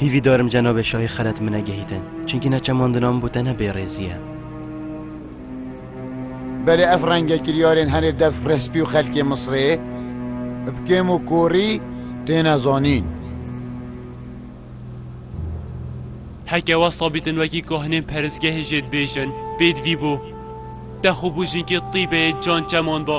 Hîvî darim cenabê şahî xelet min negehîtin. Çunkî ne çemandina min bû tenha bêrêzî ye. Belê ev renge kiryarên herê dev respî û xelkê Misrê bi kêm û korî têne zanîn. Heke wesa bîtin wekî kahinên perizgehê jê dibêjin, bêd vî bû. Te xwe bû jinkê tîbeyê can çemanda.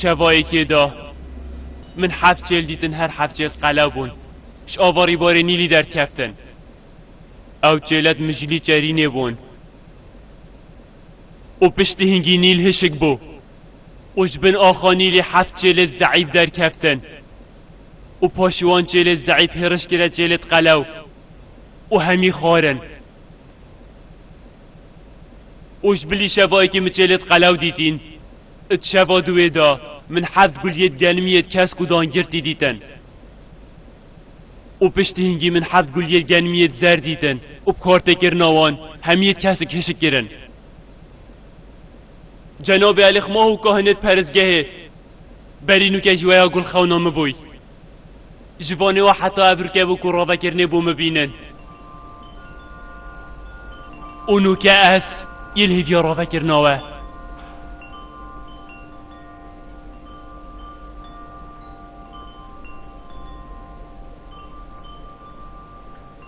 Şevayekê da min heft çêl dîtin her heft çêl qelew bûn ji ava rîbarê Nîlî derkeftin. Ew çêlet mijilî çerînê bûn û piştî hingî Nîl hişik bû û ji bin axa Nîlê heft çêlêt zeîf derkeftin û paşî wan çêlêt zeîf hêriş kire çêlêt qelew û hemî xwarin. Û ji bilî şevayekî min çêlê di qelew dîtîn. Û di şeva duwê de min heft guliyê di genimiyê di kesk û dangirtî dîtin. Û piştî hingî min heft guliyê di genimiyê di zer dîtin û bi kartekirina wan hemiyê di kesik hişik kirin. Cenabê Elî Xmah û Kahinê di perisgehê berî nûke ji weya gul xewna min bûy. Ji vanê we heta ev rikevok û ravekirinê bo mibînin. Û nûke ez yê li hêviya ravekirina we.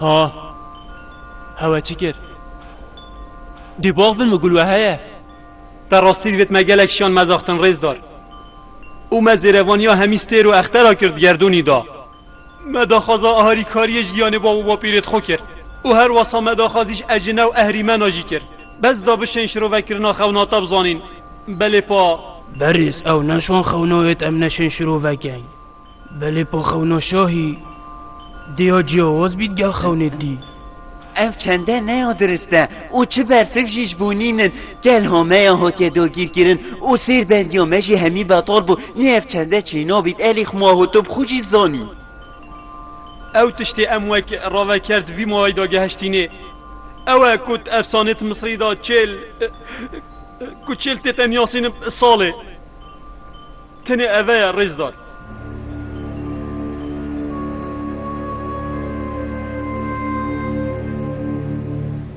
Ha. Hewe çi kir? Dî bax bin mi gul we heye. Te rastî divêt me gelek şiyan mezaxtin rêzdar. û me zêrevaniya hemî stêr û extera kir di gerdûnî da. Me daxwaza aharîkariyê ji yanê bav û bapîrê dixwe kir û her wasa me daxwazî ji ecine û ehrîmena jî kir. Bes da bişên şirovekirina xewna te bizanîn. Belê pa. Berîz ew ne şon xewna ye em neşên şirovekeyn. Belê pa xewna şahî dêya ciyawaz bît gel xewnê dî. Ev çende ne ya dirist e û çi bersik jî ji bo nîn in. Gel hameya hatiye dagîrkirin û sêr bendiya me jî hemî betal bû. Nê ev çende çêna bît elî xwma hû tu bi xwe jî dizanî. Ew tiştê em wek raveker di vî malayî de gehiştînê ew e ku di efsanê di Misirî de çêl ku çêl tê te niyasînin salê. Tenê eve ye rêzdar.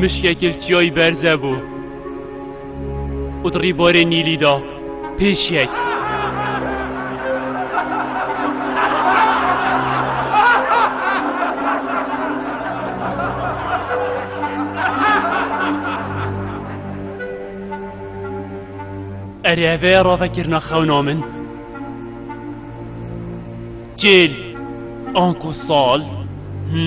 Mişkek il çiyayî berze bû û di rîbarê Nîlî de pêş yek. Erê evê ra vekirina xewna min. Cêl anku sal. Hı?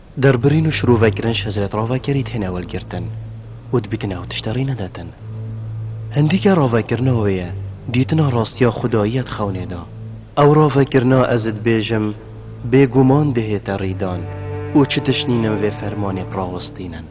Derbirîn û şirovekirin Şecret Ravekerî têne wergirtin û dibîtin ew tişt rê nedatin. Hindîka ravekirina wê ye dîtina rastiya xwedayî ya di xewnê de. Ew ravekirina ez dibêjim bêguman dihête rîdan û çi tişt nînin vê fermanê bi rawestînin.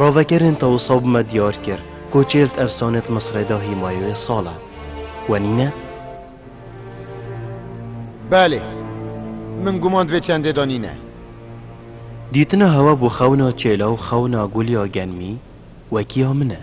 Ravegerên tewisa bi me diyar kir ku çêlt efsane di Misrê de hîmayeyê sal e. We nîne? Belê. Min guman divê çendê de nîne. Dîtina hewa bo xewna çêla û xewna gul ya genmî wekî ya min e.